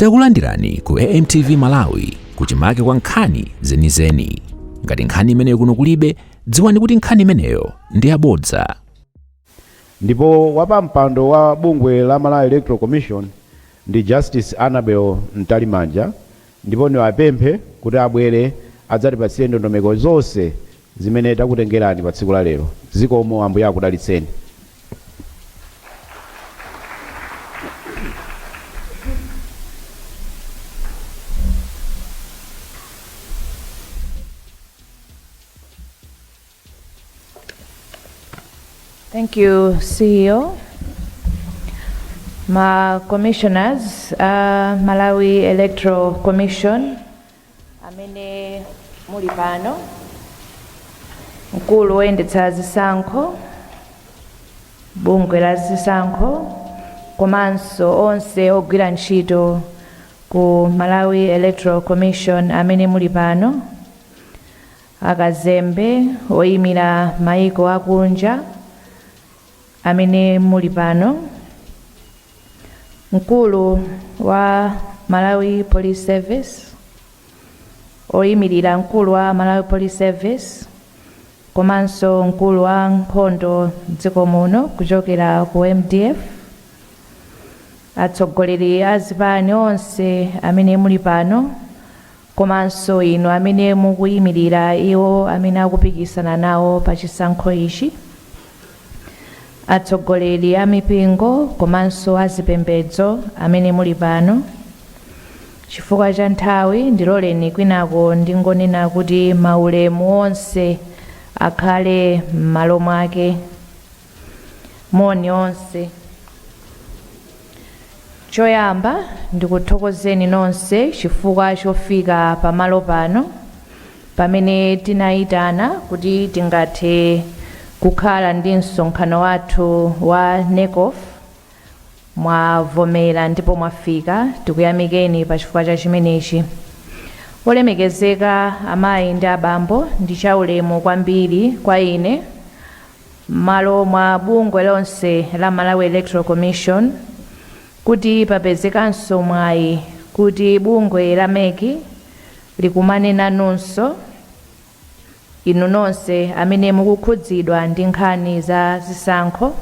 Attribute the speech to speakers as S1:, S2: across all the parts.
S1: Takulandirani ku AMTV Malawi kuchimake kwa nkhani zenizeni. Ngati nkhani imeneyo kuno kulibe, dziwani kuti nkhani imeneyo ndi yabodza.
S2: ndipo wapampando wa bungwe la Malawi Electoral Commission ndi Justice Annabel Mtalimanja ndipo niwapemphe kuti abwere adzatipatsire ndondomeko zonse zimene takutengerani pa tsiku la lero. Zikomo. Ambuye
S3: akudalitseni. Thank you, CEO. Ma commissioners a Malawi Electoral Commission, amene muli pano mkulu woyendetsa zisankho bungwe la zisankho komanso onse ogwira ntchito ku malawi electoral commission amene muli pano akazembe oyimira mayiko akunja amene muli pano, mkulu wa Malawi Police Service, oyimirira mkulu wa Malawi Police Service komanso mkulu wa nkhondo dziko muno kuchokera ku MDF, atsogoleri a zipani onse amene muli pano, komanso inu amene mukuimirira iwo amene akupikisana nawo pa chisankho ichi, atsogoleri a mipingo komanso a zipembedzo amene muli pano, chifukwa cha nthawi, ndiloleni kwinako ndingonena kuti maulemu onse akhale m'malo mwake. Moni onse. Choyamba ndikuthokozeni nonse chifukwa chofika pamalo pano pamene tinayitana kuti tingathe kukhala ndi msonkhano wathu wa NECOF. Mwavomera ndipo mwafika, tikuyamikeni pa chifukwa cha chimenechi. Olemekezeka amayi ndi abambo, ndi chaulemu kwambiri kwa ine mmalo mwa bungwe lonse la Malawi Electoral Commission kuti papezekanso mwayi kuti bungwe la mec likumane nanunso inu nonse amene mukukhudzidwa ndi nkhani za zisankho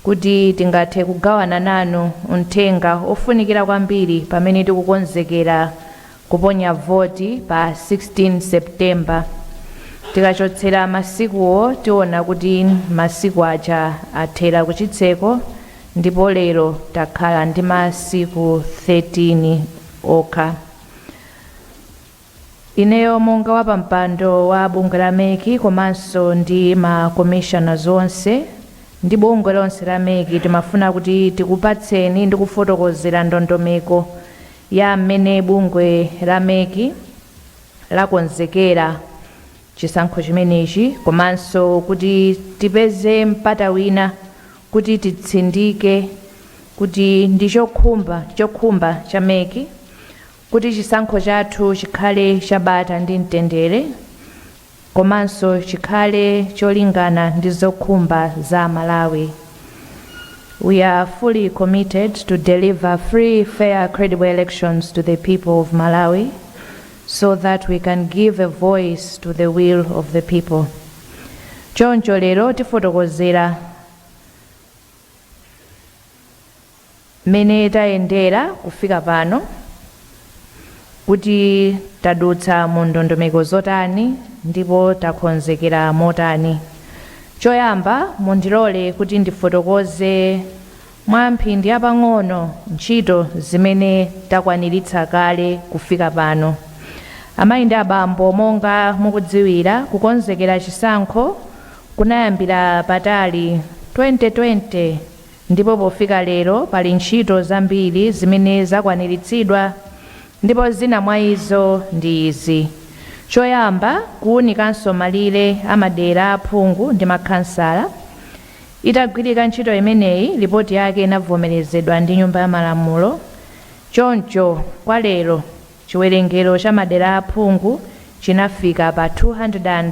S3: kuti tingathe kugawana nanu uthenga ofunikira kwambiri pamene tikukonzekera Kuponya voti pa 16 September. Tikachotsera masikuwo tiona kuti masiku aja athera kuchitseko ndipo lero takhala ndi masiku 13 okha. Ineyo monga wapampando wa bungwe la mec komanso ndi ma commissioners onse ndi bungwe lonse la mec timafuna kuti tikupatseni ndi kufotokozera ndondomeko ya m'mene bungwe la mec lakonzekera chisankho chimenechi komanso kuti tipeze mpata wina kuti titsindike kuti ndi chokhumba ndi chokhumba cha mec kuti chisankho chathu chikhale cha bata ndi mtendere komanso chikhale cholingana ndi zokhumba za Amalawi. We are fully committed to deliver free, fair, credible elections to the people of Malawi so that we can give a voice to the will of the people. Choncho lero tifotokozera mmene tayendera kufika pano, kuti tadutsa mu ndondomeko zotani ndipo takonzekera motani. Choyamba mundilole kuti ndifotokoze mwa mphindi pang'ono ntchito zimene takwaniritsa kale kufika pano. Amayi ndi abambo monga mukudziwira kukonzekera chisankho kunayambira patali 2020, Ndipo pofika lero pali ntchito zambiri zimene zakwaniritsidwa, ndipo zina mwa izo ndi izi, Choyamba, kuwunikanso malire a madera a aphungu ndi makhansala. Itagwirika ntchito imeneyi, lipoti yake inavomerezedwa ndi Nyumba ya Malamulo. Choncho, kwa lero, chiwerengero cha madera a aphungu chinafika pa 200.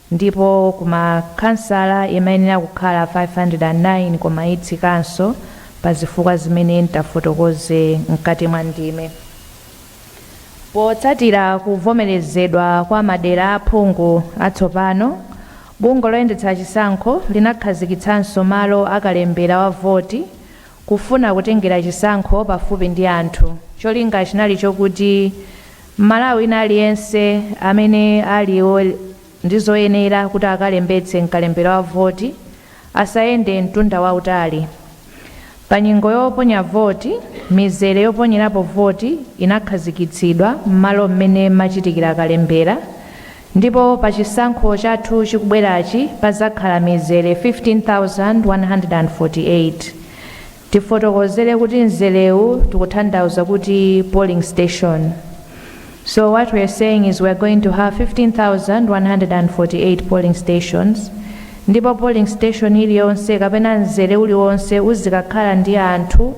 S3: ndipo ku ma khansala imayenera kukhala 509 koma itsikanso pa zifukwa zimene ntafotokoze mkati mwa ndime. Potsatira kuvomerezedwa kwa madera a aphungu atsopano, bungwe loyendetsa chisankho linakhazikitsanso malo a kalembera wa voti kufuna kutengera chisankho pafupi ndi anthu. Cholinga chinali chokuti m'Malawi wina aliyense amene ali ndi zoyenera kuti akalembetse mkalembera wa voti asayende mtunda wautali. Pa nyengo yoponya voti, mizere yoponyerapo voti inakhazikitsidwa m'malo m'mene mumachitikira kalembera Ndipo pa chisankho chathu chikubwerachi padzakhala mizere 15,148. Tifotokozere kuti mzerewu tikutanthauza kuti polling station. So what we're saying is we're going to have 15,148 polling stations ndipo polling station iliyonse kapena mzere uliwonse uzikakhala ndi anthu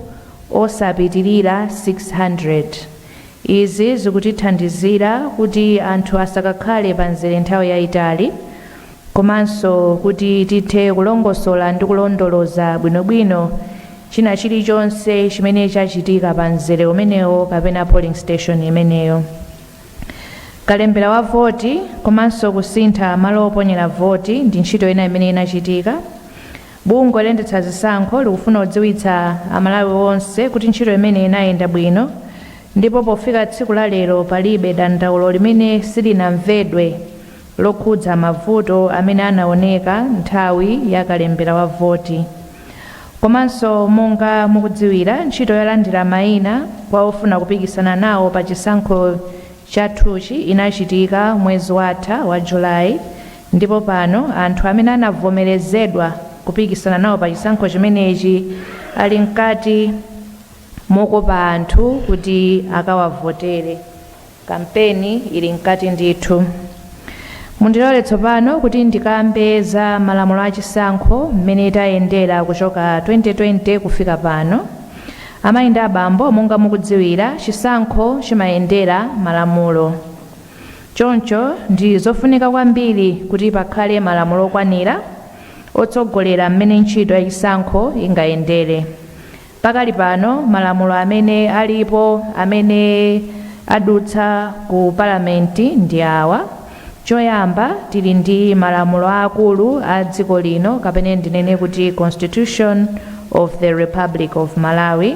S3: osapitirira 600. Izi zikutithandizira kuti anthu asakakhale pa mzere nthawi yaitali komanso kuti tithe kulongosola ndi kulondoloza bwinobwino china chilichonse chimene chachitika pa mzere umenewo kapena polling station imeneyo. Kalembera wa voti komanso kusintha malo oponyera voti ndi ntchito ina imene inachitika. Bungwe loyendetsa zisankho likufuna kudziwitsa a Malawi onse kuti ntchito imeneyi inayenda bwino ndipo pofika tsiku la lero palibe dandaulo limene silinamvedwe lokhudza mavuto amene anaoneka nthawi ya kalembera wa voti. Komanso monga mukudziwira ntchito yolandira maina kwa ofuna kupikisana nawo pa chisankho chathuchi inachitika mwezi watha wa July Ndipo pano anthu amene anavomerezedwa kupikisana nawo pa chisankho chimenechi ali mkati mokopa anthu kuti akawavotere. Kampeni ili mkati ndithu. Mundilole tsopano kuti ndikambe za malamulo a chisankho, mmene tayendera kuchoka 2020 kufika pano. Amayi ndi abambo, monga mukudziwira, chisankho chimayendera malamulo. Choncho ndi zofunika kwambiri kuti pakhale malamulo okwanira otsogolera mmene ntchito ya chisankho ingayendere. Pakali pano, malamulo amene alipo amene adutsa ku Palamenti ndi awa. Choyamba, tili ndi malamulo aakulu a dziko lino kapena ndinene kuti Constitution of the Republic of Malawi.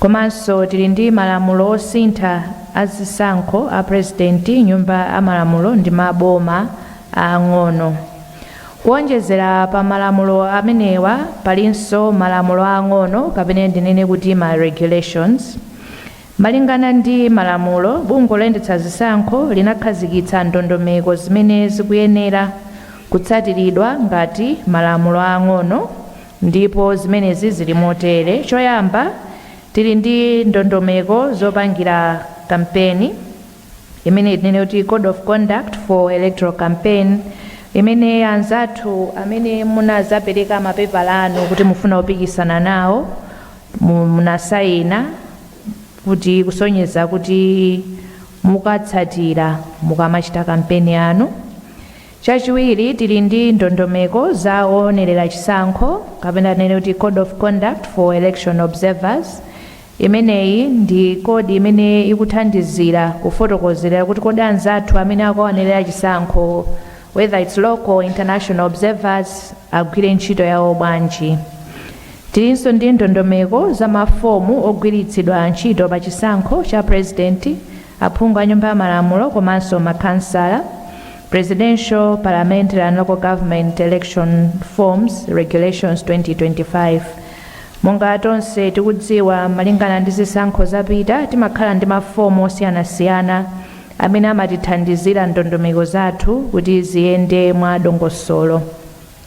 S3: Komanso tili ndi malamulo osintha a zisankho a prezidenti, nyumba ya malamulo ndi maboma aang'ono. Kuonjezera pa malamulo amenewa palinso malamulo aang'ono kapena ndinene kuti ma regulations. Malingana ndi malamulo, bungwe loyendetsa zisankho linakhazikitsa ndondomeko zimene zikuyenera kutsatiridwa ngati malamulo aang'ono. Ndipo zimenezi zili motere, choyamba, tili ndi ndondomeko zopangira kampeni imene tinene kuti Code of Conduct for Electoral Campaign imene anzathu amene munazapereka mapepala anu kuti mufuna kupikisana nawo munasayina kuti kusonyeza kuti mukatsatira mukamachita kampeni yanu. Chachiwiri, tili ndi ndondomeko za owonerera chisankho kapena tinene kuti Code of Conduct for Election Observers. Imeneyi ndi kodi imene ikuthandizira kufotokozerera kuti kodi anzathu amene akukaonerera chisankho whether its local or international observers agwire ntchito yawo bwanji. Tilinso ndi ndondomeko za mafomu ogwiritsidwa ntchito pa chisankho cha pulezidenti, aphungu a Nyumba ya Malamulo komanso makhansala, Presidential, Parliamentary and Local Government Election Forms, Regulations 2025. Monga tonse tikudziwa, malingana ndi zisankho zapita, timakhala ndi mafomu osiyanasiyana amene amatithandizira ndondomeko zathu kuti ziyende mwa dongosolo.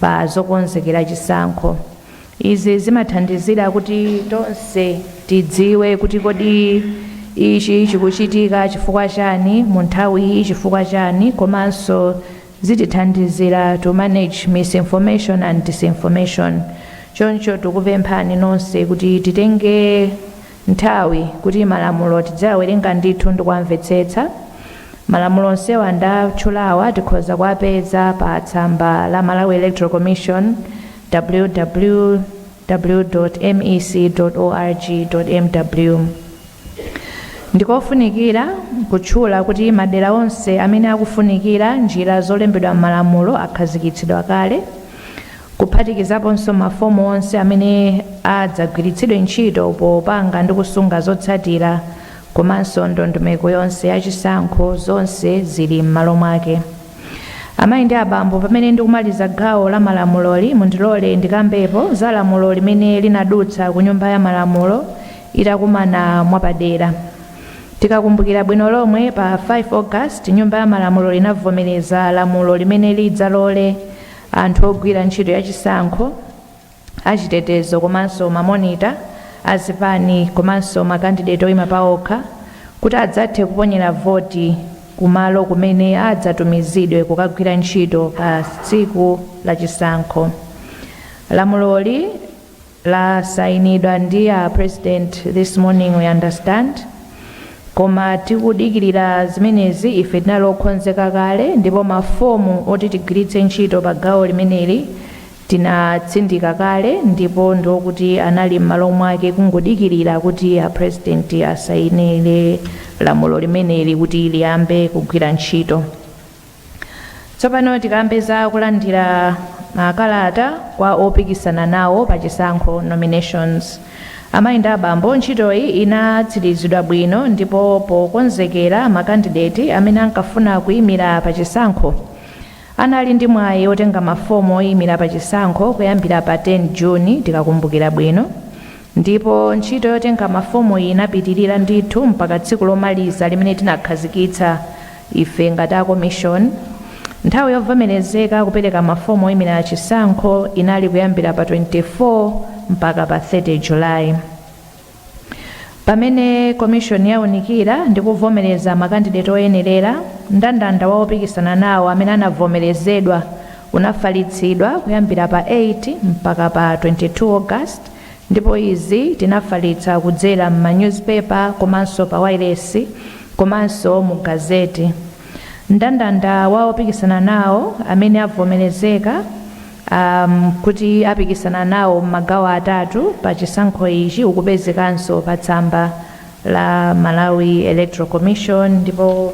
S3: pa zokonzekera chisankho. Izi zimathandizira kuti tonse tidziwe kuti kodi ichi chikuchitika chifukwa chani, mu nthawi iyi chifukwa chani komanso zitithandizira to manage misinformation and disinformation. Choncho tikupemphani nonse kuti titenge nthawi kuti malamulo tidziawerenga ndithu ndikuwamvetsetsa. Malamulo onsewa ndatchulawa tikhoza kuwapeza pa tsamba la Malawi Electoral Commission www. Mec. Org. Mw. Ndikofunikira kutchula kuti madera onse amene akufunikira njira zolembedwa m'malamulo akhazikitsidwa kale. kuphatikizaponso mafomu onse amene adzagwiritsidwe ntchito popanga ndi kusunga zotsatira komanso ndondomeko yonse ya chisankho zonse zili m'malo mwake. Amayi ndi abambo, pamene ndikumaliza gawo la malamuloli, mundilole ndikambepo za lamulo limene linadutsa ku Nyumba ya Malamulo itakumana mwapadera. Tikakumbukira bwino lomwe, pa 5 August Nyumba ya Malamulo inavomereza lamulo limene lidzalole Anthu ogwira ntchito ya chisankho, achitetezo komanso ma monitor a zipani komanso ma kandideti oyima paokha kuti adzathe kuponyera voti ku malo kumene adzatumizidwe kukagwira ntchito pa tsiku la chisankho. Lamuloli. Lasayinidwa ndi a president this morning we understand koma tikudikilira zimenezi ife tinali okhonzeka kale ndipo ma form oti tigwiritse ntchito pa gawo limeneli tinatsindika kale ndipo ndiokuti anali mmalo mwake kungodikilira kuti a president asayinile lamulo limeneli kuti liyambe kugwira ntchito. Tsopano tikambe za kulandira makalata kwa opikisana nawo pa chisankho, nominations. Amayi ndi abambo, ntchitoyi inatsirizidwa bwino ndipo pokonzekera makandideti amene ankafuna kuyimira pa chisankho, anali ndi mwayi otenga mafomu oyimira pa chisankho kuyambira pa 10 June, tikakumbukira bwino. Ndipo ntchito yotenga mafomuyi inapitilira ndithu mpaka tsiku lomaliza limene tinakhazikitsa ife ngati a komishoni. Nthawi yovomerezeka kupereka mafomu oyimira chisankho inali kuyambira pa 24 mpaka pa 30 July pamene komishoni yaunikira ndi kuvomereza makandideti oyenerera. Mndandanda wa opikisana nawo amene anavomerezedwa unafalitsidwa kuyambira pa 8 mpaka pa 22 August. Ndipo izi tinafalitsa kudzera m'ma newspaper komanso pa wireless komanso mu gazette. Mndandanda wa opikisana nawo amene avomerezeka um, kuti apikisana nawo m'magawo atatu pa chisankho ichi ukupezekanso pa tsamba la Malawi Electoral Commission ndipo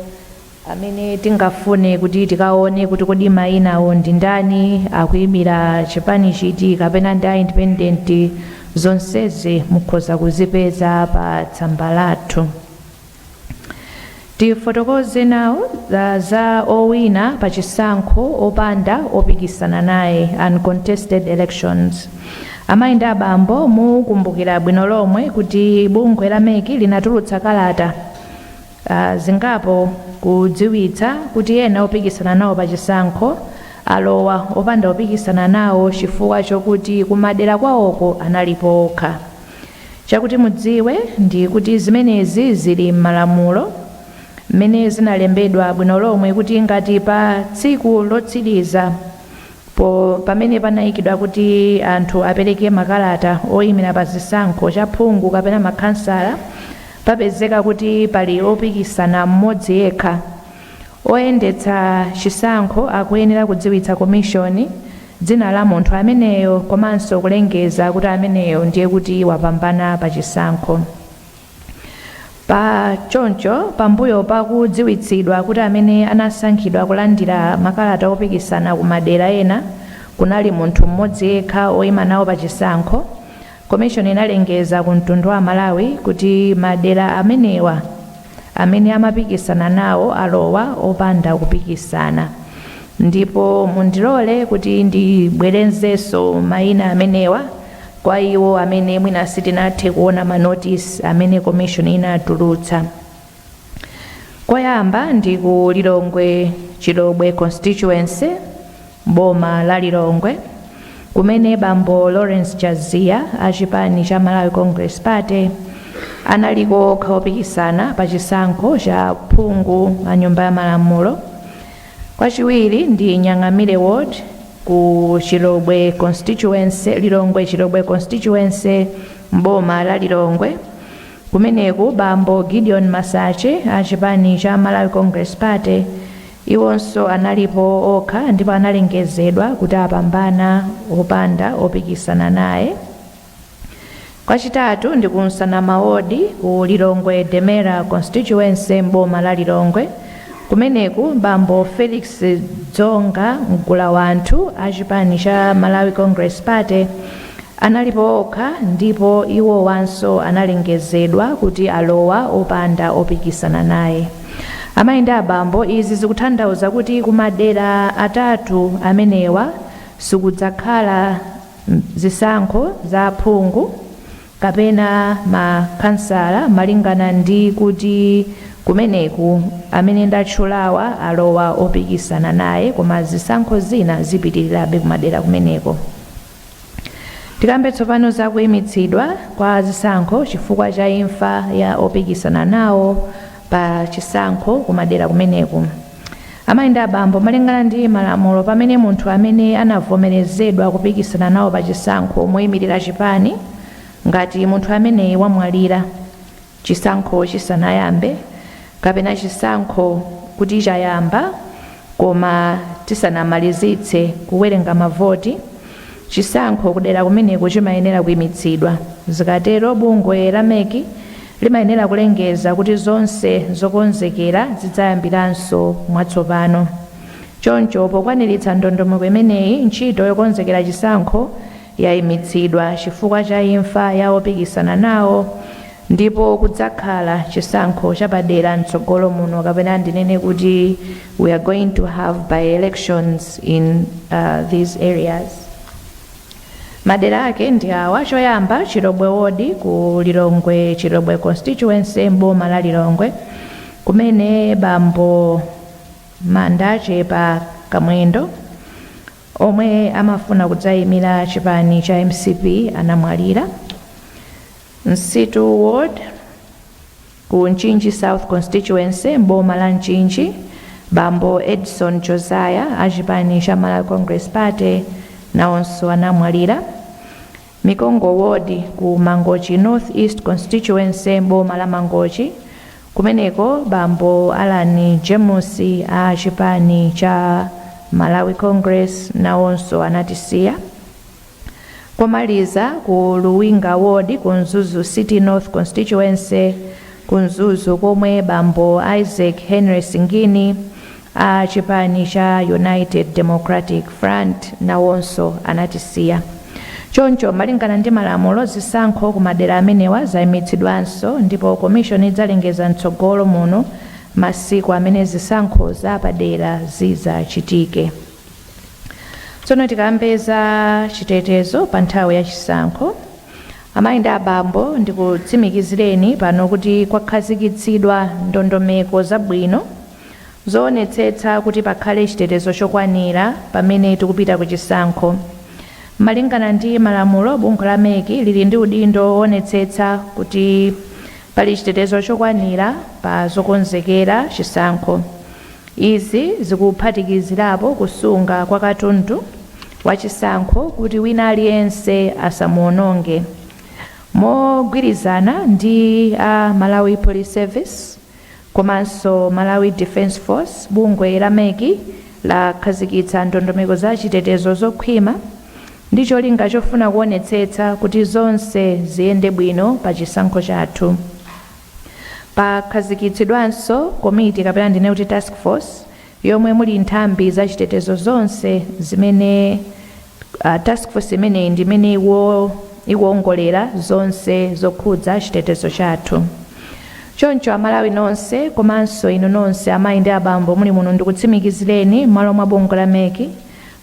S3: amene tingafune kuti tikaone kuti kodi mayinawo ndi ndani, akuyimira chipani chiti kapena ndi a independent zonsezi mukhoza kuzipeza pa tsamba lathu. Tifotokoze nawo za owina pa chisankho opanda opikisana naye uncontested elections. Amayi ndi abambo mukumbukira bwino lomwe kuti bungwe la mec linatulutsa kalata zingapo kudziwitsa kuti ena opikisana nawo pa chisankho alowa opanda opikisana nawo chifukwa chokuti ku madera kwawoko analipo okha. Chakuti mudziwe ndi kuti zimenezi zili m'malamulo m'mene zinalembedwa bwino lomwe kuti ngati pa tsiku lotsiriza, po pamene panaikidwa kuti anthu apereke makalata oimira pa zisankho cha phungu kapena makhansala papezeka kuti pali opikisana m'modzi yekha, oyendetsa chisankho akuyenera kudziwitsa komishoni dzina la munthu ameneyo komanso kulengeza kuti ameneyo ndiye kuti wapambana pa chisankho. Pa choncho, pambuyo pa kudziwitsidwa kuti amene anasankhidwa kulandira makalata opikisana ku madera ena kunali munthu m'modzi yekha oima nawo pa chisankho, Commission inalengeza ku mtundu wa aMalawi kuti madera amenewa amene amapikisana nawo alowa opanda kupikisana. Ndipo mundilole kuti ndibwerenzenso maina amenewa. Kwa iwo amene mwina sitinathe kuona ma notice amene commission inatulutsa. Koyamba ndi ku Lilongwe Chilobwe constituency boma la Lilongwe kumene bambo Lawrence Chaziya a chipani cha Malawi Congress Party analiko okha opikisana pa chisankho cha phungu a nyumba ya malamulo Kwachiwiri ndi Nyang'amire ward ku Chilobwe constituency, Lilongwe Chilobwe constituency m'boma la Lilongwe. Kumeneku bambo Gideon Masache a chipani cha Malawi Congress Party iwonso analipo okha ndipo analengezedwa kuti apambana opanda opikisana naye. Kwachitatu ndi ku Nsanama Ward ku Lilongwe Demera Constituency m'boma la Lilongwe. Kumeneku bambo Felix Dzonga Mgulawanthu a chipani cha Malawi Congress Party analipo okha ndipo iwowanso analengezedwa kuti alowa opanda opikisana naye. Amayi ndi abambo izi zikuthandauza kuti kumadera atatu amenewa sikudzakhala zisankho za aphungu kapena ma khansala malingana ndi kuti kumeneku amene ndatchulawa alowa opikisana naye koma zisankho zina zipitirirabe kumadera kumeneko tikambe tsopano za kuyimitsidwa kwa zisankho chifukwa cha imfa ya opikisana nawo pa chisankho kumadera kumeneku Amayi ndi abambo, malingana ndi malamulo, pamene munthu amene anavomerezedwa kupikisana nawo pa chisankho moyimilira chipani, ngati munthu ameneyi wamwalira chisankho chisanayambe kapena chisankho kuti chayamba koma tisanamalizitse kuwerenga mavoti, chisankho kudera kumeneko chimayenera kuimitsidwa. Zikatero bungwe la MEC. limayenera kulengeza kuti zonse zokonzekera zidzayambiranso mwatsopano. Choncho, pokwaniritsa ndondomeko imeneyi, ntchito yokonzekera chisankho yaimitsidwa chifukwa cha imfa ya opikisana nawo ndipo kudzakhala chisankho chapadera mtsogolo muno kapena ndinene kuti we are going to have by-elections in these areas. Madera ake ndi awa, choyamba, Chilobwe Ward ku Lilongwe Chilobwe Constituency m'boma la Lilongwe kumene bambo Manda Chepa Kamwendo omwe amafuna kudzayimira chipani cha mcp anamwalira. Msitu Ward. Ku Mchinji South Constituency m'boma la Mchinji, bambo Edson Josiah a chipani cha Malawi Congress Party nawonso anamwalira. Mikongo Ward ku Mangochi North East Constituency m'boma la Mangochi, kumeneko bambo Allan James a chipani cha Malawi Congress nawonso anatisiya. Komaliza ku Luwinga ward ku Mzuzu City North Constituency ku Mzuzu komwe bambo Isaac Henry Singini a chipani cha United Democratic Front nawonso anatisiya. Choncho malingana ndi malamulo zisankho ku madera amenewa zaimitsidwanso ndipo commission idzalengeza mtsogolo muno masiku amene zisankho zapadera zidzachitike. tsono tikambe za chitetezo pa nthawi ya chisankho amayi ndi abambo ndikutsimikizireni pano kuti kwakhazikitsidwa ndondomeko zabwino zoonetsetsa kuti pakhale chitetezo chokwanira pamene tikupita ku chisankho malingana ndi malamulo bungwe la mec lili ndi udindo woonetsetsa kuti pali chitetezo chokwanira pa zokonzekera chisankho Izi zikuphatikizirapo kusunga kwa katundu wachisankho kuti wina aliyense asamuononge. Mogwirizana ndi a Malawi Police Service komanso Malawi Defence Force, bungwe la mec lakhazikitsa ndondomeko za chitetezo zokhwima ndi cholinga chofuna kuonetsetsa kuti zonse ziyende bwino pa chisankho chathu. Pakhazikitsidwanso komiti kapena ndinene kuti task force yomwe muli nthambi za chitetezo zonse zimene a, task force imeneyi ndi imene ikuwo, ikuwongolera zonse zokhudza chitetezo chathu. Choncho Amalawi nonse komanso inu nonse amayi ndi abambo muli muno ndikutsimikizireni m'malo mwa bungwe la mec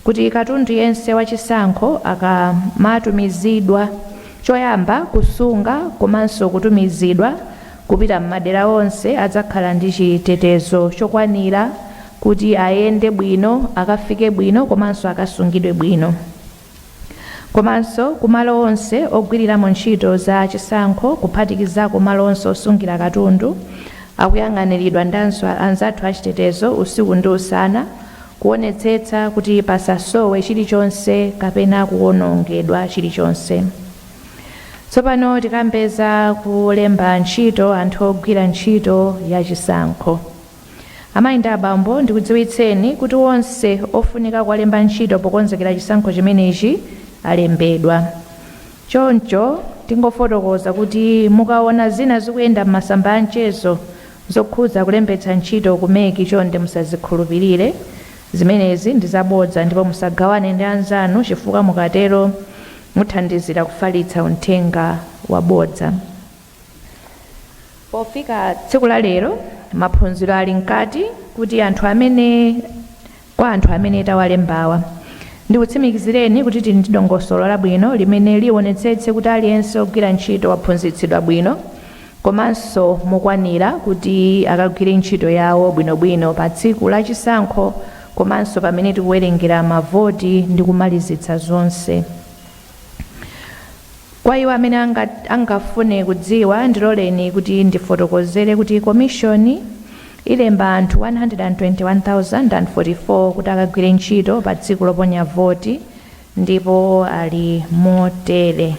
S3: kuti katundu yense wa chisankho akamatumizidwa, choyamba kusunga komanso kutumizidwa kupita m'madera onse adzakhala ndi chitetezo chokwanira kuti ayende bwino, akafike bwino komanso akasungidwe bwino. Komanso ku malo onse ogwiriramo ntchito za chisankho kuphatikizako malo onse osungira katundu akuyang'aniridwa ndi anzathu achitetezo usiku ndi usana, Kuonetsetsa kuti pasasowe chilichonse kapena kuwonongedwa chilichonse. Tsopano tikambe za kulemba ntchito anthu ogwira ntchito ya chisankho. Amayi ndi abambo, ndikudziwitseni kuti onse ofunika kuwalemba ntchito pokonzekera chisankho chimenechi alembedwa. Choncho tingofotokoza kuti mukaona zina zikuyenda m'masamba a mchezo zokhudza kulembetsa ntchito ku MEC chonde musazikhulupirire. Zimenezi ndi zabodza ndipo musagawane ndi anzanu chifukwa mukatero muthandizira kufalitsa uthenga wabodza. Pofika tsiku la lero maphunziro ali mkati kuti anthu amene. Kwa anthu amene tawalembawa, ndikutsimikizireni kuti tili ndi dongosolo labwino limene lionetsetse kuti aliyense ogwira ntchito waphunzitsidwa bwino komanso mokwanira kuti akagwire ntchito yawo bwinobwino pa tsiku la chisankho komanso pamene tikuwerengera mavoti ndi kumalizitsa zonse. Kwa iwo amene angafune kudziwa, ndiloleni kuti ndifotokozere kuti Komishoni ilemba anthu 121,044 kuti akagwire ntchito pa tsiku loponya voti ndipo ali motere.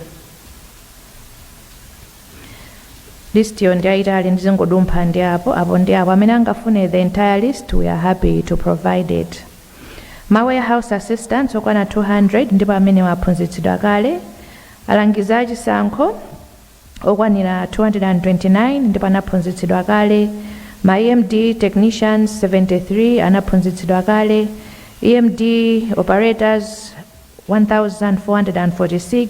S3: Listiyo ndi yaitali ndizingodumpha ndi apo apo ndi apo amene angafune the entire list we are happy to provide it. ma warehouse assistants okwana 200 ndipo amenewa aphunzitsidwa kale, alangizi a chisankho okwanira 229 ndipo anaphunzitsidwa kale, ma EMD technicians 73 anaphunzitsidwa kale, EMD operators 1446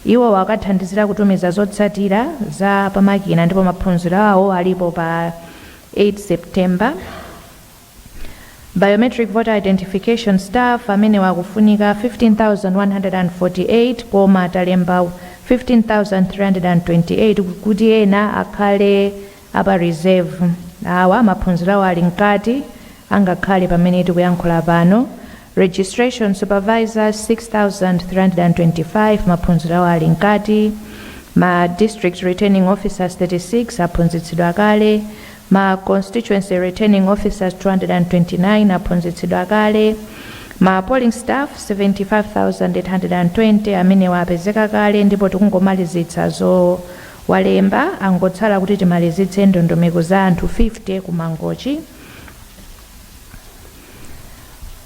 S3: iwowa akathandizira kutumiza zotsatira za pamakina ndipo maphunziro awo alipo pa 8 September. Biometric Voter Identification Staff, amenewa akufunika 15,148 koma talemba 15,328 kuti ena akhale a pa reserve. Awa maphunziro awo ali mkati angakhale pamene tikuyankhula pano. Registration Supervisors 6,325 maphunziro awo ali mkati. Ma District Returning Officers 36 aphunzitsidwa kale. Ma Constituency Returning Officers 229 aphunzitsidwa kale, ma Polling Staff 75,820 amenewa apezeka kale ndipo tikungomalizitsa zowalemba, angotsala kuti timalizitse ndondomeko za anthu 50 ku Mangochi.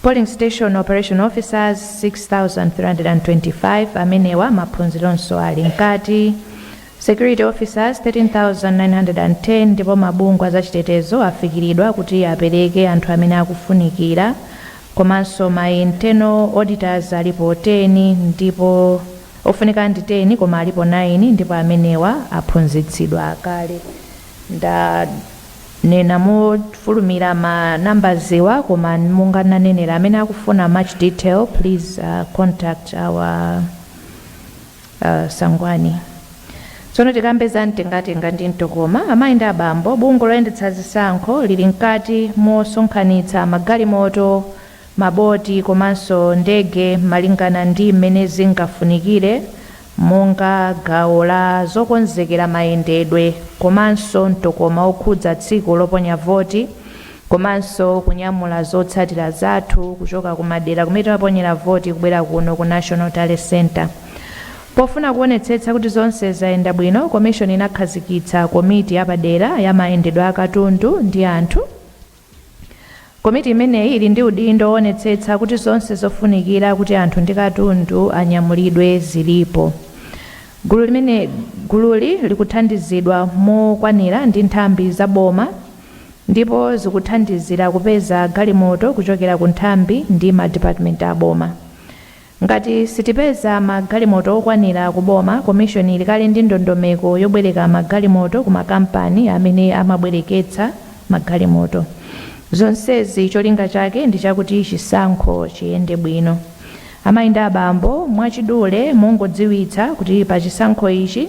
S3: Polling Station Operation Officers 6,325 amenewa maphunzironso ali mkati. Security Officers 13910 ndipo mabungwe a zachitetezo afikiridwa kuti apereke anthu amene akufunikira komanso ma Internal Auditors alipo 10 ndipo ofunika ndi 10 koma alipo 9 ndipo amenewa aphunzitsidwa kale. Ndanena mofulumira ma numbers wa koma monga ndinanenera amene akufuna much detail please contact our. Sangwani. Tsono tikambe za mtengatenga ndi mtokoma, amayi ndi abambo, bungwe loyendetsa zisankho lili mkati mosonkhanitsa magalimoto, maboti komanso ndege malingana ndi mmene zingafunikire monga gawo la zokonzekera mayendedwe komanso mtokoma wokhudza tsiku loponya voti, Komanso kunyamula zotsatira zathu kuchoka kumadera kumene timaponyera voti kubwera kuno ku National Tally Centre. Pofuna kuonetsetsa kuti zonse zayenda bwino, komishoni inakhazikitsa komiti yapadera ya mayendedwe a katundu ndi anthu. Komiti imeneyi ili ndi udindo woonetsetsa kuti zonse zofunikira kuti anthu ndi katundu anyamulidwe zilipo. Gululi likuthandizidwa mokwanira ndi nthambi za boma. ndipo zikuthandizira kupeza galimoto kuchokera ku nthambi ndi ma department a boma. Ngati sitipeza ma galimoto okwanira ku boma, commission ili kale ndi ndondomeko yobwereka ma galimoto ku ma kampani amene amabwereketsa ma galimoto. Zonsezi cholinga chake ndi chakuti chisankho chiyende bwino. Amayi ndi abambo, mwachidule mongodziwitsa kuti pa chisankho ichi,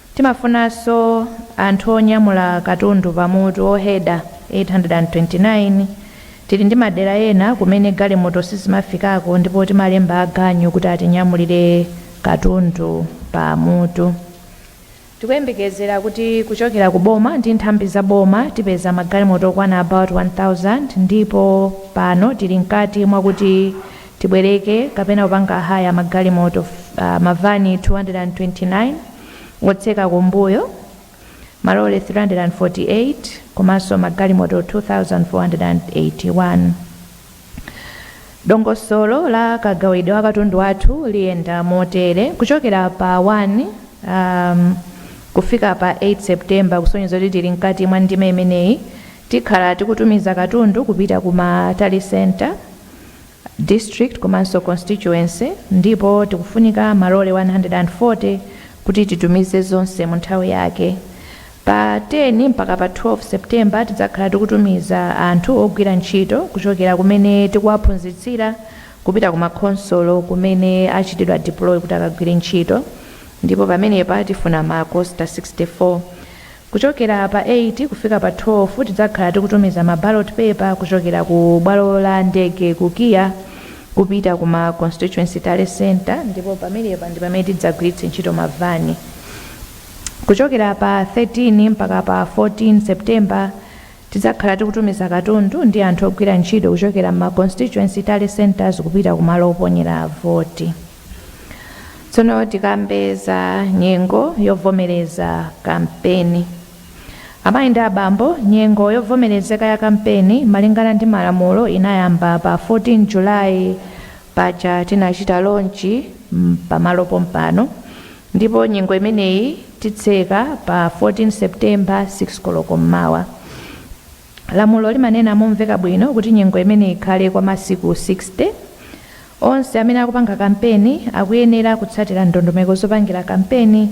S3: Timafunanso anthu onyamula katundu pa mutu, oheda, 829, Tili ndi madera ena kumene galimoto sizimafikako ndipo timalemba aganyu kuti atinyamulire katundu pa mutu. Tikuyembekezera kuti kuchokera ku boma ndi nthambi za boma tipeza magalimoto okwana about 1000 ndipo pano tili mkati mwakuti tibwereke kapena kupanga hire magalimoto, mavani 229 otseka kumbuyo, malole 348 komanso magalimoto 2,481. Dongosolo la kagawidwe wa katundu wathu liyenda motere, kuchokera pa 1 kufika pa 8 September kusonyeza kuti tili mkati mwa ndime imeneyi, tikhala tikutumiza katundu kupita ku ma Tally Centre, District komanso Constituency ndipo tikufunika malole 140 kuti titumize zonse mu nthawi yake. Pa 10 mpaka pa 12 September tidzakhala tikutumiza anthu ogwira ntchito kuchokera kumene tikuwaphunzitsira kupita ku ma khonsolo kumene achitidwa deploy kuti akagwire ntchito ndipo pamenepa tifuna ma coaster 64. Kuchokera pa 8 kufika pa 12 tidzakhala tikutumiza ma ballot paper kuchokera ku bwalo la ndege ku KIA kupita ku ma constituency tally centre ndipo pamenepa ndi pamene tidzagwiritse ntchito ma van. Kuchokera pa 13 mpaka pa 14 September tidzakhala tikutumiza katundu ndi anthu ogwira ntchito kuchokera mma constituency tally centres kupita ku malo oponyera voti. tsono tikambe za nyengo yovomereza kampeni amayi ndi abambo nyengo yovomerezeka ya kampeni malingana ndi malamulo inayamba pa 14 julayi paja tinachita lonchi mm, pamalo pompano ndipo nyengo imeneyi titseka pa 14 septemba 6 koloko mmawa Lamulo limanena momveka bwino kuti nyengo imeneyi ikhale kwa masiku 60. Onse amene akupanga kampeni akuyenera kutsatira ndondomeko zopangira kampeni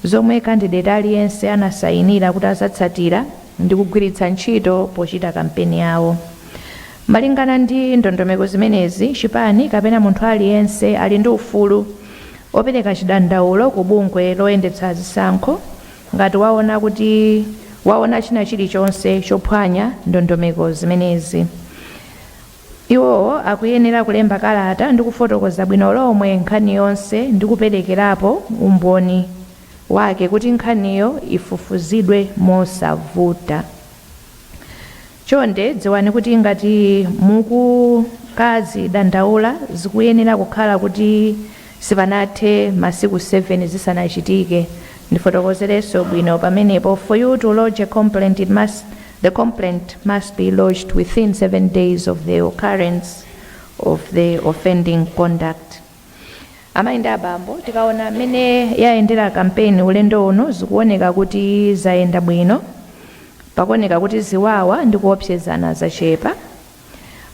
S3: zomwe kandideti aliyense anasayinira kuti azatsatira ndi kugwiritsa ntchito pochita kampeni yawo. Malingana ndi ndondomeko zimenezi, chipani kapena munthu aliyense ali ndi ufulu opereka chidandaulo ku bungwe loyendetsa zisankho. Ngati waona kuti waona china chilichonse chophwanya ndondomeko zimenezi, iwowo akuyenera kulemba kalata ndi kufotokoza bwino lomwe nkhani yonse ndi kuperekerapo umboni wake kuti nkhaniyo ifufuzidwe mosavuta. Chonde dziwani kuti ngati mukukadzidandaula zikuyenera kukhala kuti sipanathe masiku 7 zisanachitike. Ndifotokozerenso bwino pamenepo, for you to lodge a complaint it must the complaint must be lodged within 7 days of the occurrence of the offending conduct. Amayi ndi abambo, tikaona mmene yayendera kampeni ulendo uno zikuoneka kuti zayenda bwino. Pakuoneka kuti ziwawa ndi kuopsezana zachepa.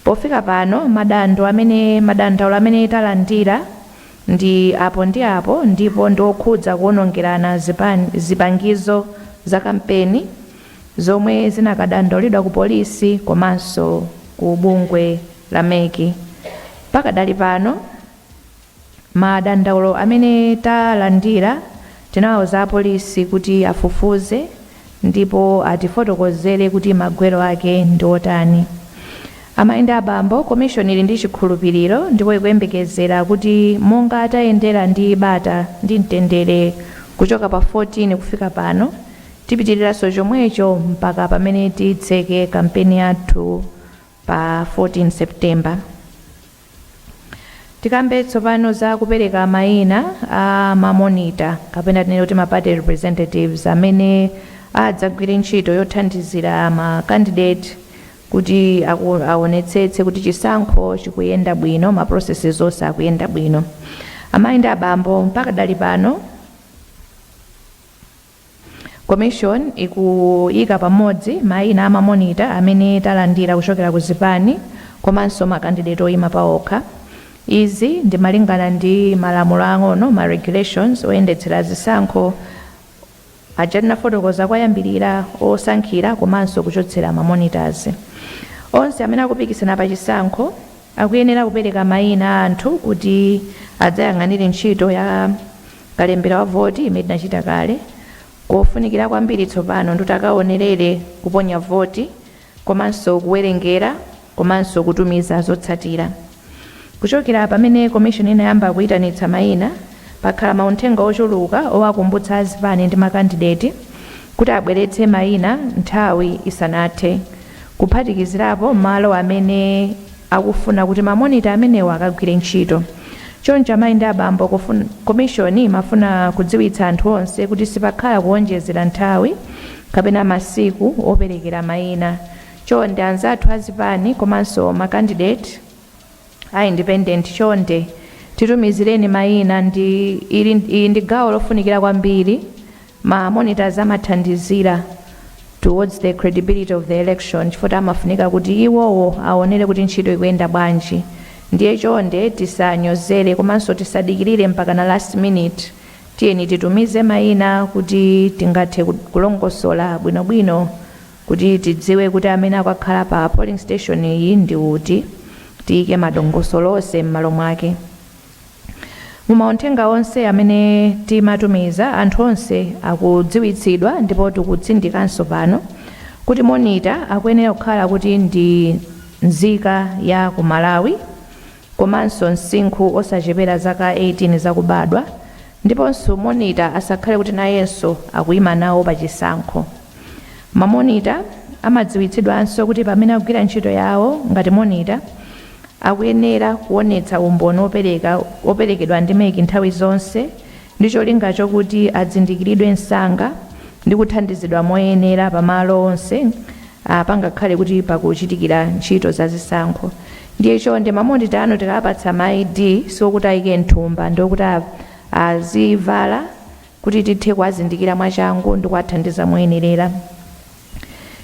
S3: Pofika pano madando amene madandaulo amene talandira ndi apo ndi apo ndipo ndi okhudza kuonongerana zipan, zipangizo za kampeni zomwe zinakadandaulidwa ku polisi komanso ku bungwe la mec. Pakadali pano, madandaulo amene talandira tinawauza apolisi kuti afufuze ndipo atifotokozere kuti magwero ake ndi otani. Amayi ndi abambo, komishoni ili ndi chikhulupiriro ndipo ikuyembekezera kuti monga tayendera ndi bata ndi mtendere kuchoka pa 14 kufika pano, Tipitiriranso chomwecho mpaka pamene titseke kampeni yathu pa 14 September. Tikambe tsopano za kupereka mayina a ma monitor kapena tinene kuti ma party representatives amene adzagwire ntchito yothandizira ma candidate kuti aku, aonetsetse kuti chisankho chikuyenda bwino, ma processes onse akuyenda bwino. Amayi ndi abambo, pakadali pano, Commission ikuyika pamodzi mayina a ma monitor amene talandira kuchokera ku zipani komanso ma candidate oyima paokha. Izi ndi malingana ndi malamulo aang'ono, ma regulations, oyendetsera zisankho aja tinafotokoza koyambilira osankhira komanso kuchotsera ma monitors. Onse amene akupikisana pa chisankho akuyenera kupereka mayina a anthu kuti adzayang'anire ntchito ya. kalembera wa voti imene tinachita kale. Kofunikira kwambiri tsopano ndi kuti akaonerere kuponya voti komanso kuwerengera komanso kutumiza zotsatira. Kuchokera pamene Commission inayamba kuitanitsa maina, pakhala mauthenga ochuluka owakumbutsa azipani ndi makandideti kuti abweretse maina nthawi isanathe, kuphatikizirapo malo amene. akufuna kuti ma monitor amenewa akagwire ntchito. Choncho amayi ndi abambo kufun komishoni imafuna kudziwitsa anthu onse kuti sipakhala kuonjezera nthawi kapena masiku operekera maina. Chonde anzathu a zipani komanso ma candidate a independent chonde titumizireni maina ndi ili iyi ndi gawo lofunikira kwambiri. Ma monitors amathandizira towards the credibility of the election chifukwa amafunika kuti iwowo awonere kuti ntchito ikuyenda bwanji ndiye chonde tisanyozere komanso tisadikirire mpakana last minute tiyeni titumize mayina kuti tingathe kulongosola bwinobwino kuti tidziwe kuti amene akakhala pa polling station iyi ndi uti tiyike madongosolo onse m'malo mwake. Mu mauthenga onse amene timatumiza, anthu onse akudziwitsidwa ndipo tikutsindikanso pano kuti monitor akuyenera kukhala kuti ndi nzika ya ku Malawi komanso msinkhu osachepera zaka 18 zakubadwa ndiponso monitor asakhale kuti nayenso akuyima nawo pa chisankho. Ma monitor amadziwitsidwanso kuti pamene akugwira ntchito yawo ngati monitor, akuyenera kuonetsa umboni opereka operekedwa ndi mec nthawi zonse ndi cholinga chokuti azindikiridwe msanga ndi kuthandizidwa moyenera pa malo onse a pangakhale kuti pakuchitikira ntchito za zisankho ndiye chonde mamonita anu tikapatsa ma id siokuti ayike mthumba ndiokuti azivala kuti tithe kuwazindikira mwachangu ndi kuwathandiza moyenerera.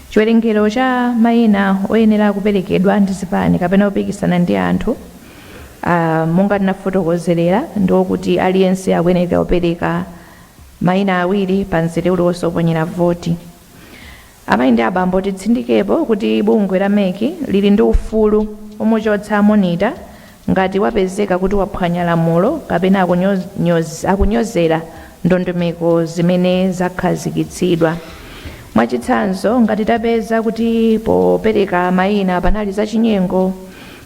S3: Chiwerengero cha mayina oyenera kuperekedwa ndi zipani kapena opikisana ndi anthu a monga tinafotokozerera ndi okuti aliyense akuyenera kupereka mayina awiri pa mzere uliwonse woponyera voti. Amayi ndi abambo titsindikepo kuti bungwe la mec lili ndi ufulu omuchotsa monitor ngati wapezeka kuti waphwanya lamulo kapena akunyozera ndondomeko zimene zakhazikitsidwa. Mwachitsanzo ngati tapeza kuti popereka mayina panali zachinyengo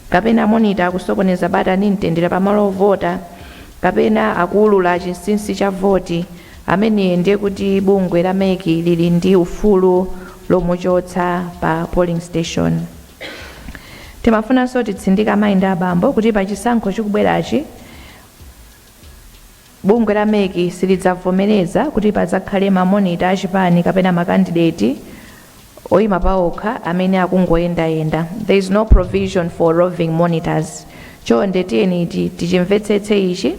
S3: kapena monitor akusokoneza bata ndi mtendere pamalo ovota kapena akuulula chinsinsi cha voti, amene ndiye kuti bungwe la mec lili ndi ufulu lomuchotsa pa polling station. Timafunanso titsindike amayi ndi abambo kuti pa chisankho chikubwerachi, bungwe la mec silidzavomereza kuti padzakhale ma monitor a chipani kapena ma kandideti oima paokha amene akungoyendayenda, there is no provision for roving monitors, chonde tiyeni tichimvetsetse ichi,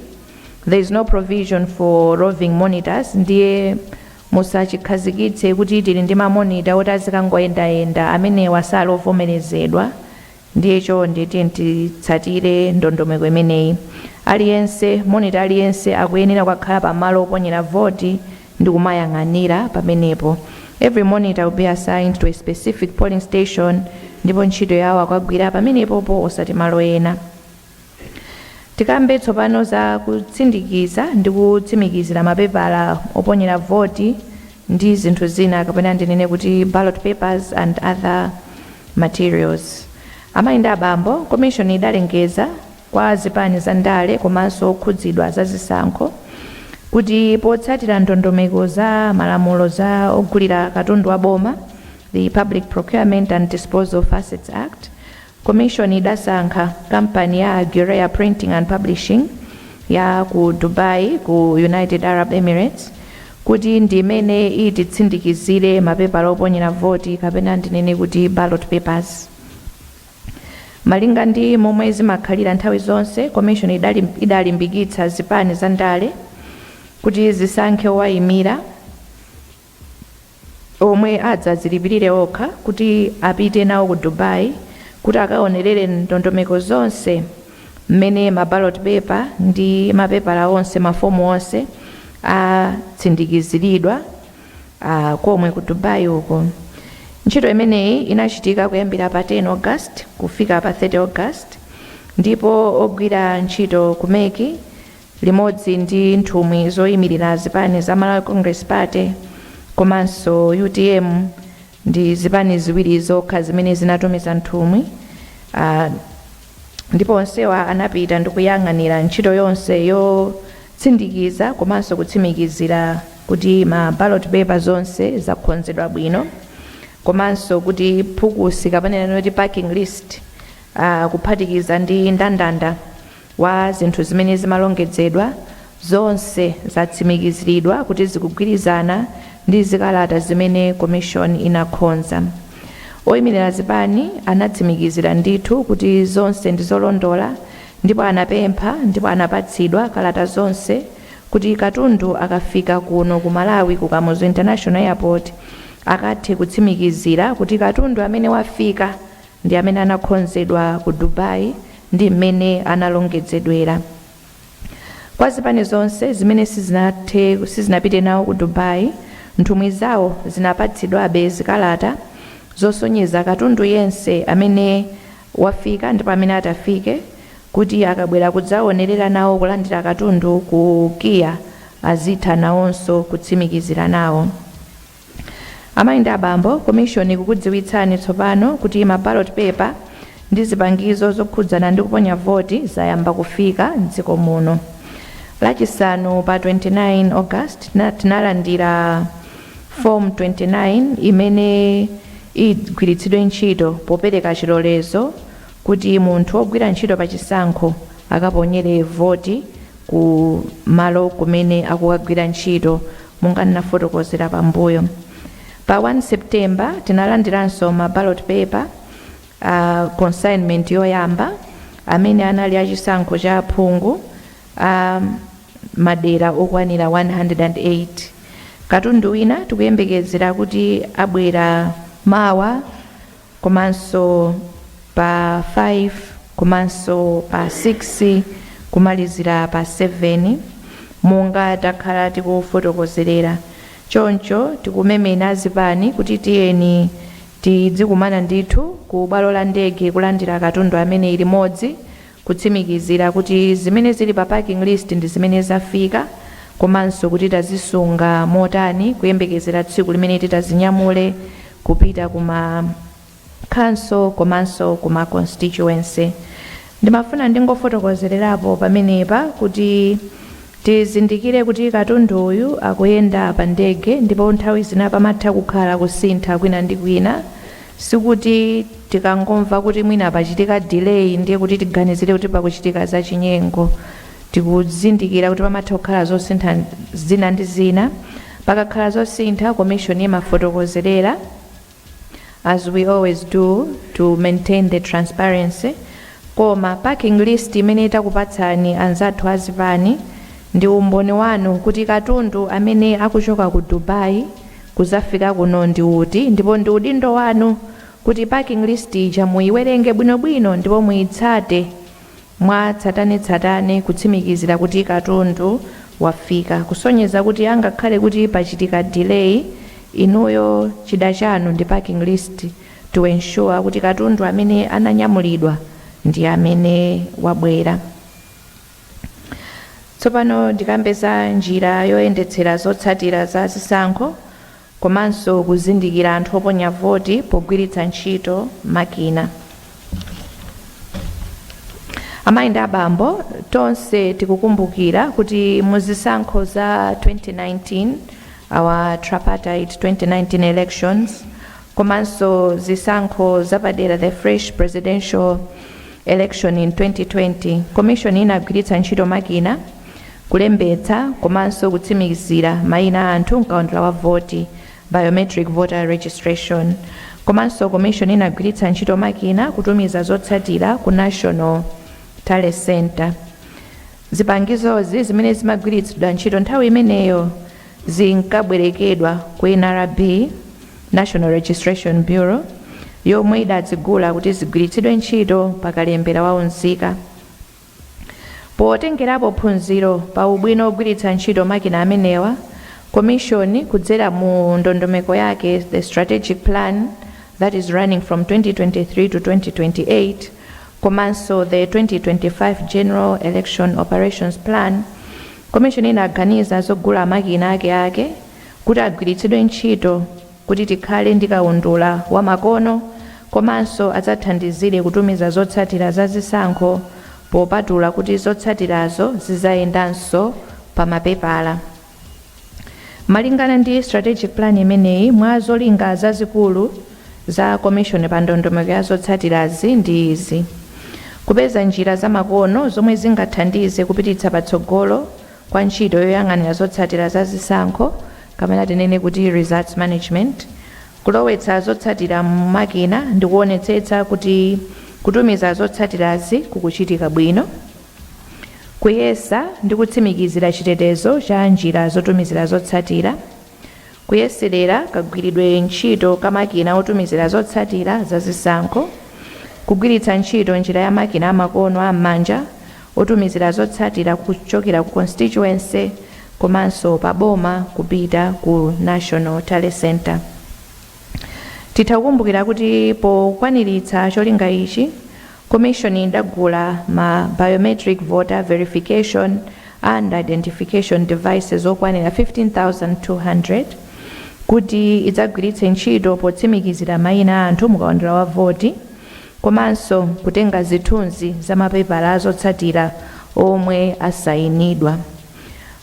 S3: there is no provision for roving monitors, ndiye musachikhazikitse kuti tili ndi ma monitor oti azikangoyendayenda, amenewa sali ovomerezedwa, Ndiye chonde tiyeni titsatire ndondomeko imeneyi. Aliyense, monitor aliyense akuyenera kukakhala pa malo oponyera voti ndi kumayang'anira pamenepo. Every monitor will be assigned to a specific polling station ndipo ntchito yawo akukagwira pamenepopo osati malo ena. Tikambe tsopano za kutsindikiza ndi kutsimikizira mapepala oponyera voti ndi zinthu zina kapena ndinene kuti ballot papers and other materials. Amayi ndi abambo, komishoni idalengeza kwa zipani za ndale komanso okhudzidwa za zisankho kuti potsatira ndondomeko za malamulo a ogulira katundu wa boma, the Public Procurement and Disposal of Assets Act, Komishoni idasankha kampani ya Al Ghurair Printing and Publishing ya ku Dubai ku United Arab Emirates kuti ndi imene ititsindikizire mapepala oponyera voti kapena ndinene kuti ballot papers. Malinga ndi momwe zimakhalira nthawi zonse, komishoni idalimbikitsa zipani za ndale kuti zisankhe owaimira. omwe adzadzilipirire okha kuti apite nawo ku Dubai kuti akaonerere ndondomeko zonse mmene ma ballot paper ndi mapepala onse, mafomu onse atsindikiziridwa komwe ku Dubai uko. Ntchito imeneyi inachitika kuyambira pa 10 August kufika pa 30 August ndipo ogwira ntchito ku MEC limodzi ndi nthumwi zoyimirira zipani za Malawi Congress Party komanso UTM ndi zipani ziwiri zokha zimene zinatumiza nthumwi ah, ndipo onsewa anapita ndi kuyang'anira ntchito yonse yotsindikiza komanso kutsimikizira kuti ma ballot paper zonse zakonzedwa bwino komanso kuti phukusi kapena kuti packing list ah, kuphatikiza ndi ndandanda wa zinthu zimene zimalongedzedwa zonse zatsimikiziridwa kuti zikugwirizana ndi zikalata zimene Komishoni inakhonza. Oyimirira zipani anatsimikizira ndithu kuti zonse ndi zolondola ndipo anapempha ndipo anapatsidwa kalata zonse kuti katundu akafika kuno ku Malawi ku Kamuzu International Airport akathe kutsimikizira kuti katundu amene wafika ndi amene anakhonzedwa ku Dubai ndi mmene analongedzedwera. Kwa zipani zonse zimene sizinapite nawo ku Dubai, nthumwi zawo zinapatsidwabe zikalata zosonyeza katundu yense amene wafika ndipo amene atafike kuti akabwera kudzaonerera nawo kulandira katundu ku KIA azitha nawonso kutsimikizira nawo. Amayi ndi abambo, Komishoni ikukudziwitsani tsopano kuti ma ballot paper ndi zipangizo zokhudzana ndi kuponya voti zayamba kufika m'dziko muno. Lachisanu pa 29 August tinalandira Form 29 imene igwiritsidwe ntchito popereka chilolezo kuti munthu wogwira ntchito pa chisankho akaponyere voti ku malo kumene akukagwira ntchito Monga ndinafotokozera pambuyo, pa 1 September tinalandiranso ma ballot paper consignment yoyamba amene anali a chisankho cha aphungu a madera okwanira 108. Katundu wina tikuyembekezera kuti abwera mawa komanso pa 5 komanso pa 6 kumalizira pa 7 monga takhala tikufotokozerera choncho tikumemena azipani kuti tiyeni tidzikumana ndithu ku bwalo la ndege kulandira katundu ameneyu limodzi Kutsimikizira kuti zimene zili pa packing list ndi zimene zafika komanso kuti tazisunga motani kuyembekezera tsiku limene titazinyamule kupita ku ma Council komanso ku ma Constituency. Ndimafuna ndingofotokozererapo pamenepa kuti tizindikire kuti katundu uyu akuyenda pa ndege ndipo nthawi zina pamatha kukhala kusintha kwina ndi kwina. Sikuti tikangomva kuti mwina pachitika delay ndiye kuti tiganizire kuti pakuchitika zachinyengo. Tikuzindikira kuti pamatha kukhala zosintha zina ndi zina. Pakakhala zosintha, Commission imafotokozerera as we always do to maintain the transparency. Koma packing list imene takupatsani anzathu a zipani ndi umboni wanu kuti katundu amene akuchoka ku Dubai kuzafika kuno ndi uti ndipo ndi udindo wanu kuti packing list ija muyiwerenge bwino bwino ndipo muyitsate mwa tsatane tsatane kutsimikizira kuti katundu wafika kusonyeza kuti angakhale kuti pachitika delay inuyo chida chanu ndi packing list to ensure kuti katundu amene ananyamulidwa ndi amene wabwera. Tsopano ndikambe za njira yoyendetsera zotsatira za zisankho komanso kuzindikira anthu oponya voti pogwiritsa ntchito makina. Amayi ndi abambo, tonse tikukumbukira kuti mu zisankho za 2019, our tripartite 2019 elections, komanso zisankho zapadera the fresh presidential election in 2020 commission inagwiritsa ntchito makina kulembetsa komanso kutsimikizira mayina a anthu mkaundula wa voti biometric voter registration komanso commission inagwiritsa ntchito makina kutumiza zotsatira ku national tally center zipangizozi zimene zimagwiritsidwa ntchito nthawi imeneyo zinkabwerekedwa ku nrb National Registration Bureau, yomwe idazigula kuti zigwiritsidwe ntchito pa kalembera wa unzika. Potengerapo phunziro pa ubwino wogwiritsa ntchito makina amenewa, Komishoni, kudzera mu ndondomeko yake The Strategic Plan that is running from 2023 to 2028 komanso the 2025 General Election Operations Plan, Komishoni inaganiza zogula makina akeake kuti agwiritsidwe ntchito kuti tikhale ndi kaundula wa makono komanso adzathandizire kutumiza zotsatira za zisankho popatula kuti zotsatirazo zizayendanso pa mapepala. Malingana ndi Strategic Plan imeneyi, mwa zolinga zazikulu za Komishoni pa ndondomeko ya zotsatirazi ndi izi, Kupeza njira zamakono zomwe zingathandize kupititsa patsogolo kwa ntchito yoyang'anira zotsatira za zisankho kapena tinene kuti results management, kulowetsa zotsatira mu makina ndi kuonetsetsa kuti kutumiza zotsatirazi kukuchitika bwino, kuyesa ndi kutsimikizira chitetezo cha njira zotumizira zotsatira, Kuyeserera kagwiridwe ntchito ka makina otumizira zotsatira za zisankho, kugwiritsa ntchito njira ya makina amakono a m'manja otumizira zotsatira kuchokera ku Constituency komanso pa boma kupita ku National Tally Centre. Titha kukumbukira kuti pokwaniritsa cholinga ichi, Komishoni idagula ma Biometric Voter Verification and Identification Devices okwanira 15,200 kuti idzagwiritse ntchito potsimikizira maina a anthu mukaundula wa voti komanso kutenga zithunzi za mapepala a zotsatira omwe asayinidwa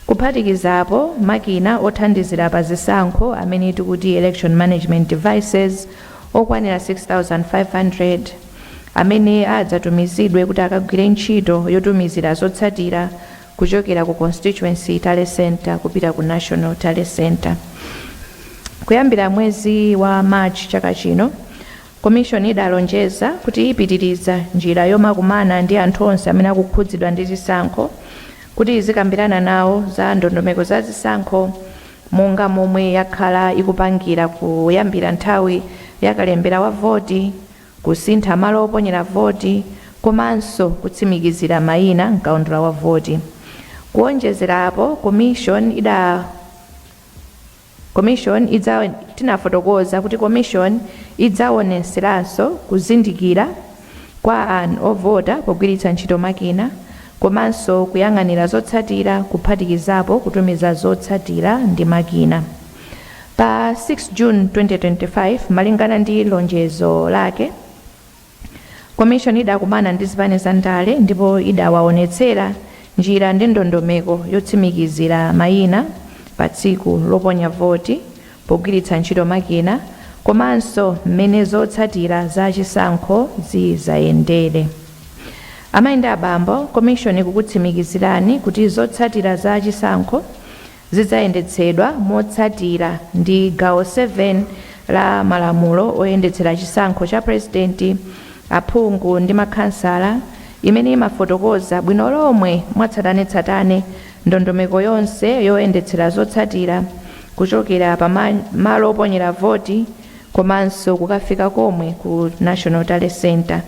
S3: kuphatikizapo makina othandizira pa zisankho amene tikuti Election Management Devices okwanira 6,500 amene adzatumizidwe kuti akagwire ntchito yotumizira zotsatira kuchokera ku Constituency Tally Centre kupita ku National Tally Centre. Kuyambira mwezi wa March chaka chino, Komishoni idalonjeza kuti ipitiriza njira yomakumana ndi anthu onse amene akukhudzidwa ndi zisankho kuti izikambirana nawo za ndondomeko za zisankho monga momwe yakhala ikupangira kuyambira nthawi ya kalembera wa voti kusintha malo oponyera voti komanso kutsimikizira mayina m'kaundula wa voti. Kuonjezerapo, Komishoni ida. Komishoni idza tinafotokoza kuti Komishoni idzaonetseranso kuzindikira kwa an ovota pogwiritsa ntchito makina komanso kuyang'anira zotsatira kuphatikizapo kutumiza zotsatira ndi makina. Pa 6 June 2025, malingana ndi lonjezo lake, Komishoni idakumana ndi zipani za ndale ndipo idawaonetsera njira ndi ndondomeko yotsimikizira mayina pa tsiku loponya voti pogwiritsa ntchito makina komanso mmene zotsatira za chisankho zidzayendere. Amayi ndi abambo, Komishoni ikukutsimikizirani kuti zotsatira za chisankho zidzayendetsedwa motsatira ndi gawo 7 la malamulo oyendetsera chisankho cha Purezidenti, aphungu ndi makhansala, imene imafotokoza bwino lomwe mwatsatanetsatane ndondomeko yonse yoyendetsera zotsatira kuchokera pa malo oponyera voti komanso kukafika komwe ku National Tally Centre.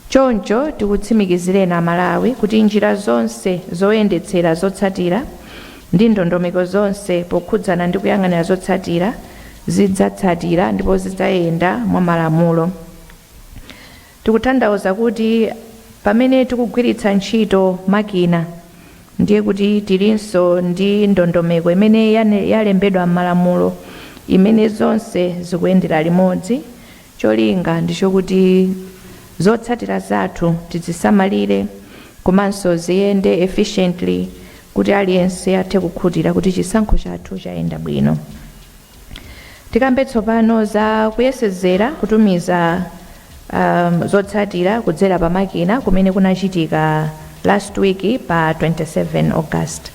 S3: Choncho tikutsimikizireni Amalawi kuti njira zonse zoyendetsera, zotsatira ndi ndondomeko zonse pokhudzana ndi kuyang'anira zotsatira zidzatsatira ndipo zidzayenda mwa malamulo. Tikuthandauza kuti pamene tikugwiritsa ntchito makina ndiye kuti tilinso ndi ndondomeko imene yalembedwa m'malamulo imene zonse zikuyendera limodzi. Cholinga ndi chokuti zotsatira zathu tizisamalire komanso ziyende efficiently kuti aliyense athe kukhutira kuti chisankho chathu chayenda bwino. Tikambe tsopano za kuyesezera kutumiza um, zotsatira kudzera pa makina kumene kunachitika last week pa 27 August.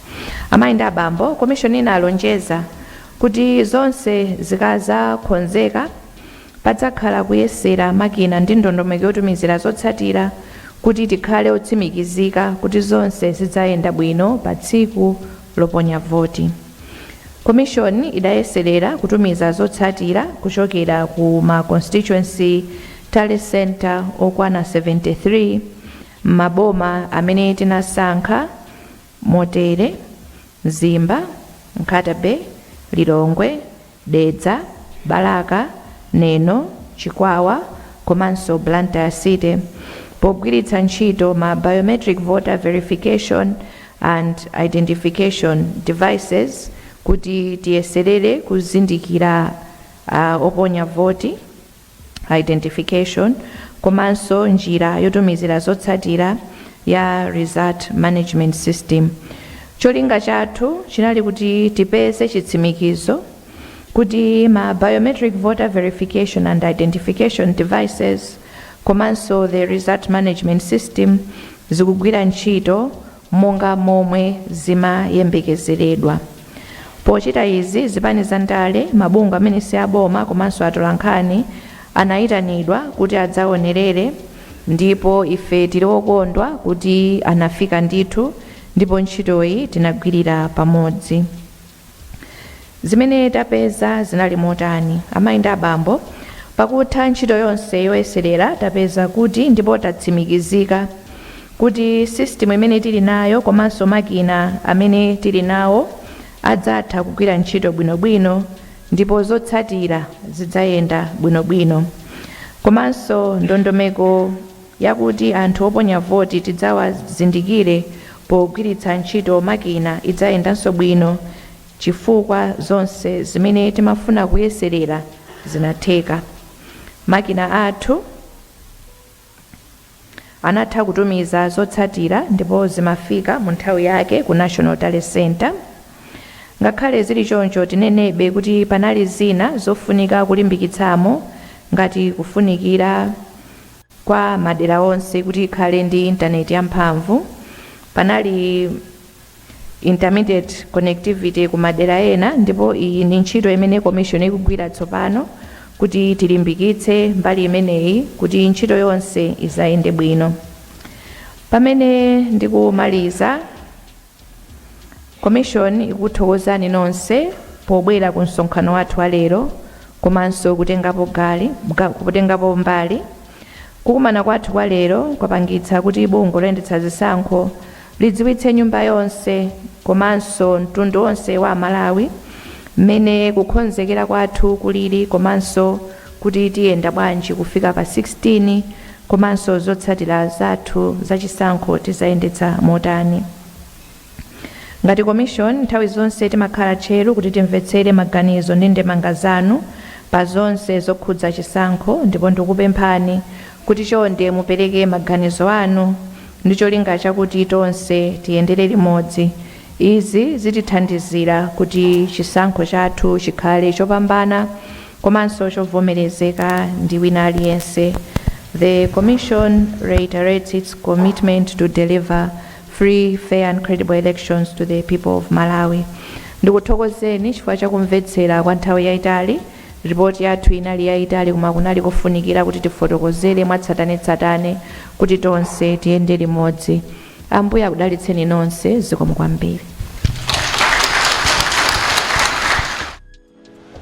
S3: Amayi ndi abambo, komishoni inalonjeza kuti zonse zikazakonzeka Padzakhala kuyesera makina ndi ndondomeko yotumizira zotsatira kuti tikhale otsimikizika kuti zonse zidzayenda bwino pa tsiku loponya voti. Komishoni idayeserera kutumiza zotsatira kuchokera ku ma Constituency Tally Centre okwana 73 m'maboma amene tinasankha motere, Mzimba, Nkhata Bay, Lilongwe, Dedza, Balaka, Neno, Chikwawa komanso Blantyre City pogwiritsa ntchito ma Biometric Voter Verification and Identification Devices kuti tiyeserere kuzindikira oponya voti. identification komanso njira yotumizira zotsatira ya result management system. Cholinga chathu chinali kuti tipeze chitsimikizo kuti ma biometric voter verification and identification devices komanso the result management system zikugwira ntchito monga momwe zimayembekezeredwa. Pochita izi, zipani za ndale, mabungwe amene si aboma komanso atolankhani anayitanidwa kuti adzaonerere ndipo ife tili okondwa kuti anafika ndithu ndipo ntchitoyi tinagwirira pamodzi. Zimene tapeza zinali motani? Amayi ndi abambo, pakutha ntchito yonse yoyeserera, tapeza kuti ndipo tatsimikizika kuti sisitimu imene tili nayo komanso makina amene tili nawo adzatha kugwira ntchito bwinobwino ndipo zotsatira zidzayenda bwinobwino. Komanso ndondomeko yakuti anthu oponya voti tidzawazindikire pogwiritsa ntchito makina idzayendanso bwino chifukwa zonse zimene timafuna kuyeserera zinatheka. Makina athu anatha kutumiza zotsatira ndipo zimafika mu nthawi yake ku National Tally Centre. Ngakhale zili choncho, tinenebe kuti panali zina zofunika kulimbikitsamo ngati kufunikira, kwa madera onse kuti ikhale ndi intaneti yamphamvu panali intermittent connectivity ku madera ena ndipo iyi ndi ntchito imene commission ikugwira tsopano kuti tilimbikitse mbali imeneyi kuti ntchito yonse izayende bwino pamene ndikumaliza komishoni ikuthokozani nonse pobwera ku msonkhano wathu wa lero komanso kutengapo mbali kukumana kwathu kwa lero kwapangitsa kuti bungwe loyendetsa zisankho lidziwitse nyumba yonse komanso mtundu wonse wa amalawi mmene kukhonzekera kwathu kulili komanso kuti tiyenda bwanji kufika pa 16 komanso zotsatira zathu za chisankho tizayendetsa motani. Ngati Commission, nthawi zonse timakhala tcheru kuti timvetsere maganizo ndi ndemanga zanu pa zonse zokhudza chisankho ndipo ndikupemphani kuti chonde mupereke maganizo anu ndi cholinga chakuti tonse tiyendere limodzi Izi zitithandizira kuti chisankho chathu chikhale chopambana komanso chovomerezeka ndi wina aliyense The Commission reiterates its commitment to deliver free, fair and credible elections to the people of Malawi Ndikuthokozeni chifukwa cha kumvetsera kwa nthawi yaitali Ripoti yathu inali yaitali koma kunali kofunikira kuti tifotokozere mwatsatanetsatane kuti tonse tiyende limodzi. Ambuye akudalitseni nonse zikomo kwambiri.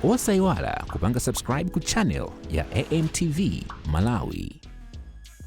S1: Osayiwala kupanga subscribe ku channel ya AMTV Malawi.